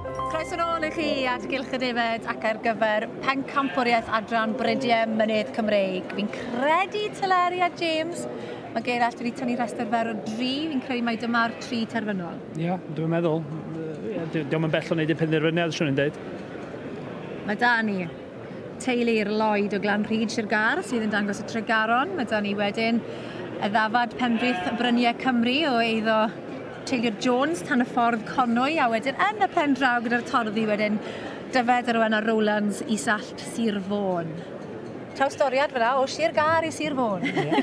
Croeso nôl i chi at Gylch y Defaid ac ar gyfer pencampwriaeth adran Brydiau Mynydd Cymreig. Fi'n credu Teleri a James, mae Gerallt wedi tynnu rhestr fer o dri, fi'n credu mai dyma'r tri terfynol. Ie, yeah, dwi'n meddwl. Diolch yn bell o wneud i penderfyniad, swn i'n dweud. Mae da ni teulu'r Lloyd o Glan Rhyd Sir Gar sydd yn dangos y Tregaron. Mae da ni wedyn y ddafad Penrith Bryniau Cymru o eiddo Teyrnged Jones tan y ffordd Conwy a wedyn yn y pen draw gyda'r torddi wedyn Dyfed a Rowenna Rowlands i Sallt Sir Fôn. Trawstoriad fel 'na o Sir Gâr i Sir Fôn. Ie.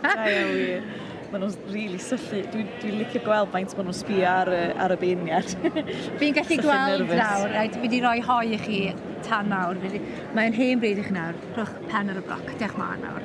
Da iawn wir. Maen nhw'n rili syllu. Dwi'n dwi licio gweld faint maen nhw'n sbio ar y, ar y beirniad. Fi'n gallu gweld nawr, rhaid, fi di roi hoi i chi tan nawr. Mae'n hen bryd i chi nawr. Rhowch pen ar y bloc. Diolch mân nawr.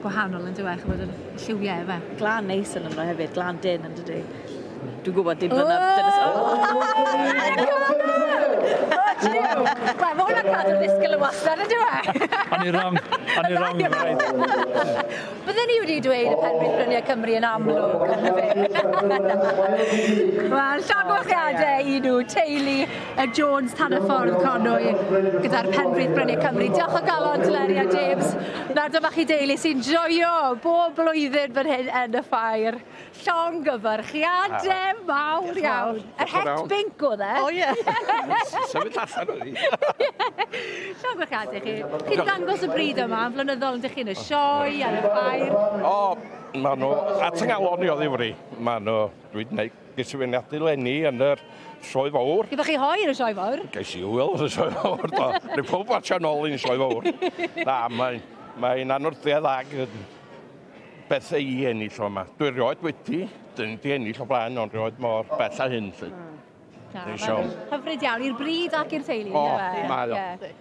gwahanol yn dywe, chymod yr lliwiau efe. Glan neis yn yno hefyd, glan din yn dydy. Dwi'n gwybod dim fyna dynas... Wel, mae hwnna'n cadw ddisgyl yn wastad yn dywe. O'n i wrong, o'n i wrong, you're right. Bydden ni wedi dweud y penrhyd bryniau Cymru yn amlwg. Wel, llongyfarchiadau i nhw, teulu Ed Jones, Tanner Ffordd, Conwy, gyda'r Penfrith Bryniau Cymru. Diolch o galon, Teleri a James. Na, dyma chi deulu sy'n joio bob blwyddyn fan hyn yn y ffair. Llong gyfarchiade mawr iawn. Yr het binc oedd e. O ie. Symud allan o'n i. Llong gyfarchiade chi. Chi'n dangos y bryd yma, yn flynyddol yn dych chi'n y sioe, yn y ffair. O, maen nhw at yngalon i o ddifri. Maen nhw, dwi'n gwneud Ges i fy ngadu lenni yn yr sioe fawr. Gyda chi hoi yn y sioe fawr? Ges i wyl yn y sioe fawr, do. Rwy'n pob watch yn ôl i'n sioe fawr. Na, mae'n mae anwrtedd ag beth ei ennill o yma. Dwi rioed wedi, dyn di ennill o blaen, ond rioed mor bell a hyn. Lle. Hyfryd iawn, i'r bryd ac i'r teulu. O, mae o.